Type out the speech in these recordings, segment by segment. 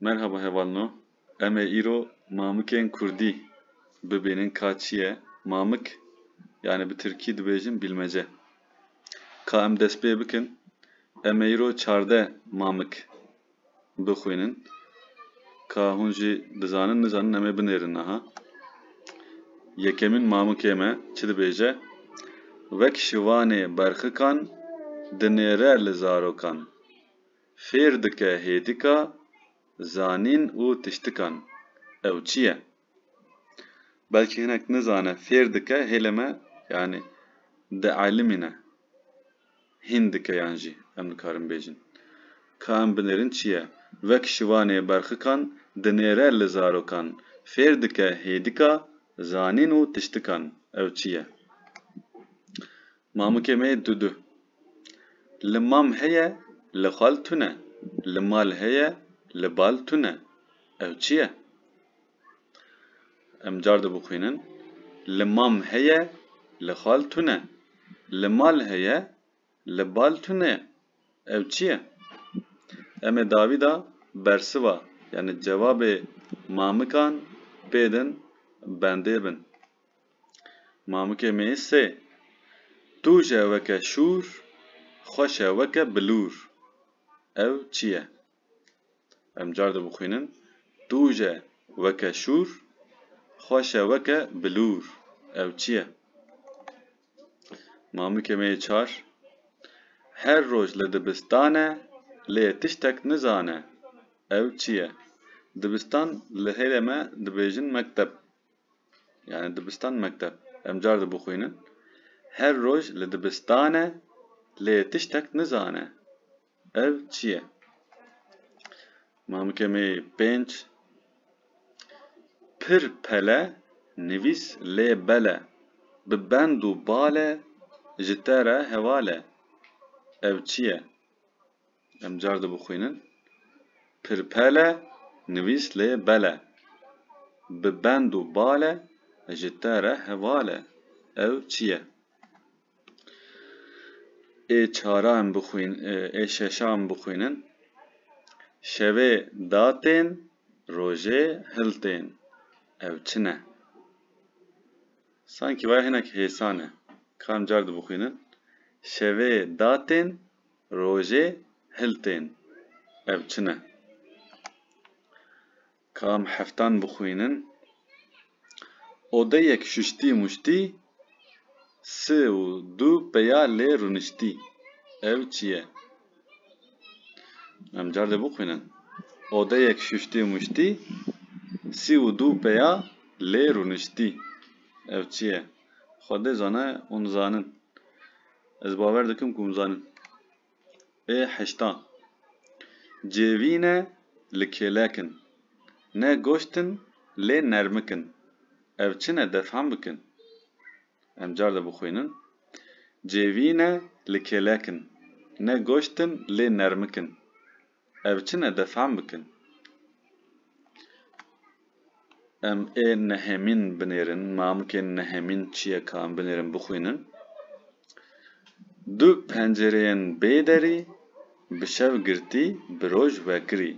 Merhaba hevalno, em ê îro mamikên kurdî bibînin ka çi ye mamik yanî bi tirkî dibêjin bîlmece. Ka em dest pê bikin em ê îro çarde mamik bixwînin ka hûn jî dizanin nizanin em ê binêrin niha. Yekemîn mamikê me çi dibêje, Wek şivanê berxikan dinêre li zarokan, fêr dike hêdika zanîn û tiştikan. Ew çi ye? Belkî hinek nizane fêr dike hêlê me yanî di elimîne. Hîn dikeyan jî em nikarin bêjin. Ka em binêrin çi ye? Wek şivanê berxikan dinêre li zarokan, fêr dike hêdika zanîn û tiştikan. Ew çi ye? Mamikê me yê Dudu. Li mam heye, li xal tune. Li mal heye, li bal tune. Ew çi ye? Em car di bixwînin. Li mam heye, li xal tune. Li mal heye, li bal tune. Ew çi ye? Em ê dawî de bersiva yanî cevabê mamikan bêdin bendê bin. Mamikê me yê sê. Tu je weke şûr, xweş e weke bilûr. Ew çi ye? Em car dibixwînin. Tuje weke şûr, xweş e weke bilûr. Ew çi ye? Mamikê me yê çar her roj li dibistan e lê tiştek nizane. Ew çi ye? Dibistan li hêlê me dibêjin mekteb. Yani dibistan mekteb. Em car dibixwînin. Her roj li dibistan e lê tiştek nizane. Ev çi ye? Mamikemê pênc Pir pele nivîs lê bele Bi bend û bale ji te re heval e Ev çi ye? Em car di bixwînin Pir pele nivîs lê bele Bi bend û bale ji te re heval e Ew çi ye? ê çaran bixwîn ê şeşan bixwînin Şevê da tên rojê hil tên ew çi ne? Sankî waya hinek hêsan e. Kam car dibixwînin Şevê da tên rojê hil tên ew çi ne? Ka em heftan bixwînin. Odeyek şuştî muştî, si û du peya lê rûniştî. Ew çi ye? Em car dê bixwînin. Odeyek şuştî muştî, si û du peya lê rûniştî. Ew çi ye? Xwedê zane hûn zanin. Ez bawer dikim ku hûn zanin. Ê heşta. Cêvîne li kêlek in. Ne goşt in lê nermik in. Ev çi ne defhem bikin. Em car de bixwînin. Cêvîne li kêlek in. Ne goşt in lê nermik in. Ev çi ne defam bikin. Em ê nehemîn binêrin, mamikên nehemîn çiyeka em binêrin bixwînin. Du pencereyên bê derî, bi şev girtî, bi roj vekirî.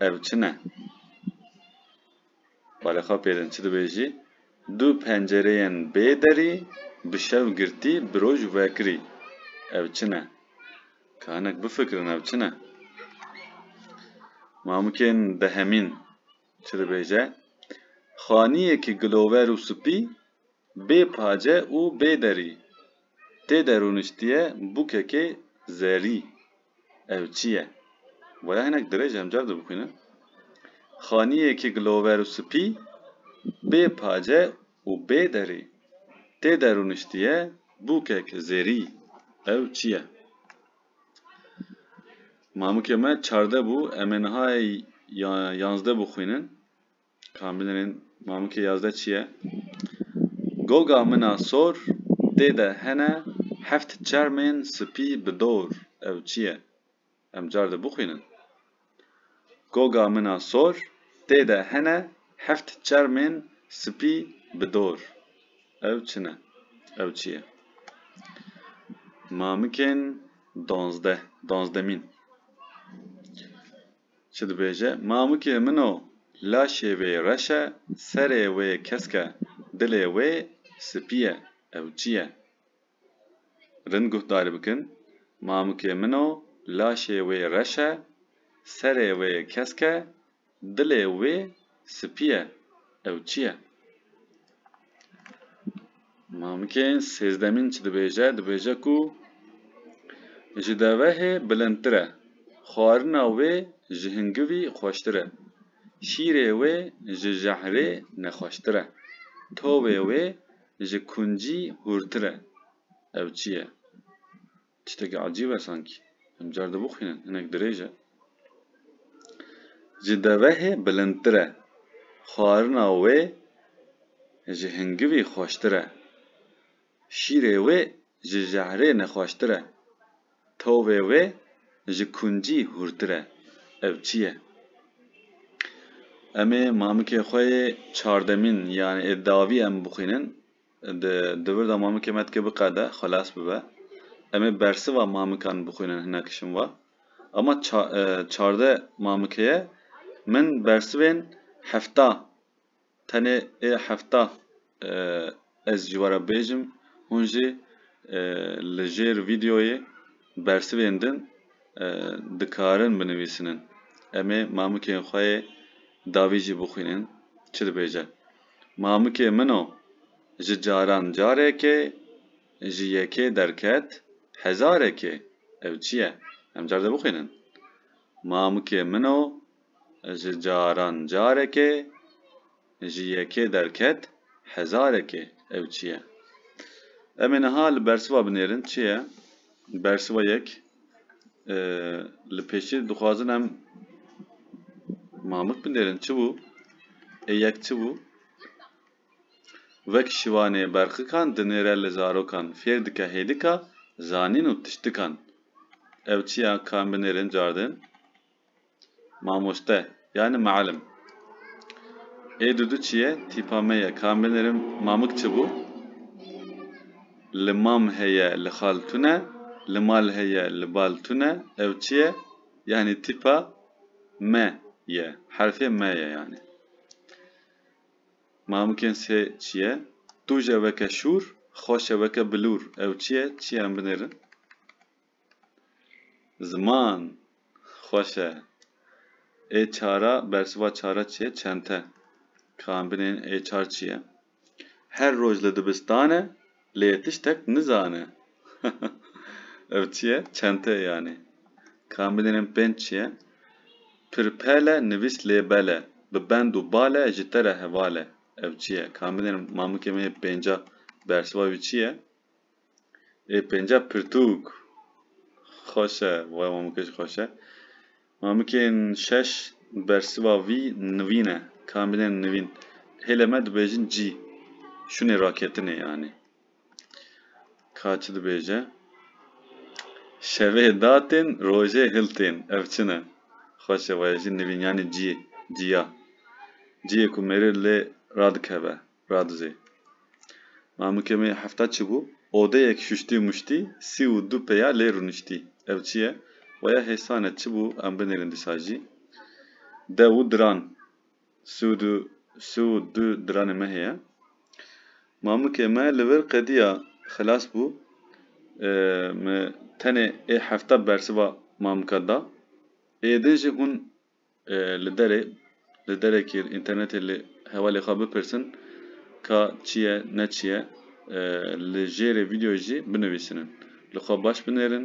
Ev çi ne? Balê xwe pê din çi dibêjî, Du pencereyên bê derî, bi şev girtî, bi roj vekirî. Ev çi ne? Ka hinek bifikirin ev çi ne? Mamikên dehemîn çi dibêje, Xaniyekî gilover û spî, bê pace û bê derî. Tê de rûniştiye bûkekê zerî. Ev çi ye? Boya hinek dirêj e, em car dibixwînin. Xaniyekî gilover û spî, bê pace û bê derî. Tê de rûniştiye bûkek zêrî. Ew çi ye? Mamikê me çardeh bû, em ê niha yanzdeh bixwînin. Ka min ên mamikê yazdeh çi ye? Goga min a sor tê de hene heft çermên spî bi dor. Ew çi ye? Em car di bixwînin. Goga min a sor tê de hene heft çermên spî bi dor. Ew çi ne? Ew çi ye? Mamikên danzdeh, danzdemîn. Çi dibêje, Mamikê min o, laşê wê reş e, serê wê kesk e, dilê wê spî ye, ew çi ye? Rind guhdarî bikin, Mamikê min o, laşê wê reş e, serê wê kesk e, dilê wê Spî ye, ew çi ye? Mamikê sêzdemîn çi dibêje? Dibêje ku ji devehê bilindtir e, xwarina wê ji hingivî xweştir e, şîrê wê ji jehrê nexweştir e, tovê wê ji kuncî hûrtir e, ew çi ye? Tiştekî ecîb e sankî. Em car di bixwînin. Hinek dirêj e. Ji devehê bilindtir e. Xwarina wê ji hingivî xweştir e. Şîrê wê ji jehrê nexweştir e. Tovê wê ji kuncî hûrtir e. Ev çi ye? Em ê mamikê xwe yê çardemîn yanê ê davî em bixwînin. Di dibir de mamikê me dike biqede, xwelas bibe. Em ê bersiva mamikan bixwînin hinek şim va, Ama çardeh mamikeye min bersivên hefta, tenê ê hefta ez ji we re bêjim, hûn jî li jêr vîdeoyê bersivên din dikarin binivîsinin. Em ê mamikên xwe yê davî jî bixwînin çi dibêje. Mamikê min o, ji caran carekê, ji yekê derket hezarekê. Ev çi ye? Em car de bixwînin. Mamikê min o, ji caran carekê, ji yekê derket hezarekê. Ew çi ye? Em ê niha li bersiva binêrin çi ye? Bersiva yek, Li pêşî dixwazin em mamik binêrin çi bû? Ê yek çi bû? Wek şivanê berqikan dinêre li zarokan, fêr dike hêdika zanîn û tiştikan. Ew çi ya ka em binêrin cardin? Mamoste yani mealim. Ê Dudu çi ye? Tîpa me ye. Ka binirim mamik çi bû? Li mam heye, li xal tune, li mal heye, li bal tune. Ew çi ye? Yani tîpa me ye. Herfê me ye yani. Mamikên sê çi ye? Tuje weke şûr, xweşe weke bilûr. Ew çi ye? Çi ye em binêrin? Ziman xweş e. Ê çara bersiva çara çi ye? Çente. Ka em binêrin ê çar çi ye? Her roj li dibistan e, lê tiştek nizane. Ev çi ye? Çente ye yanî. Ka em binêrin pênc çi ye? Pirpel e, nivîs lêbel e. Bi bend û bal e, ji te re heval e. Ev çi ye? Ka em binêrin mamikê min ê pênca bersiva wî çi ye? Ê pênca pirtûk xweş e, waya mamikê jî xweş e. Mamikên şeş bersiva vî nivîn e, kamilên nivîn. Hêlê me dibêjin cî, şûnê raketinê yanî. Ka çi dibêje? Şevê datên, rojê hiltên. Ev çi ne? Xweş e, waya jî nivîn yanî cî, cîya. Cîyê ku mêrê lê radikeve. Radizê. Ma min ke meyê hefta çibû, odeyek şuştî muştî, sî û du peya lê rûniştî. Ev çi ye? Weya hêsan e, çi bû em binêrin dîsa jî? Dew û diran. Sî û du, sî û du diranê me heye. Ma min ke me li vir qedîya xilas bû, min tenê ê hefta bersiva ma min ka da. Êdin jî hûn li derê li derekê înternetê li hevalê xwe bipirsin ka çi ye ne çi ye li jêrê vîdeoyê jî binivîsînin li xwe baş binêrin.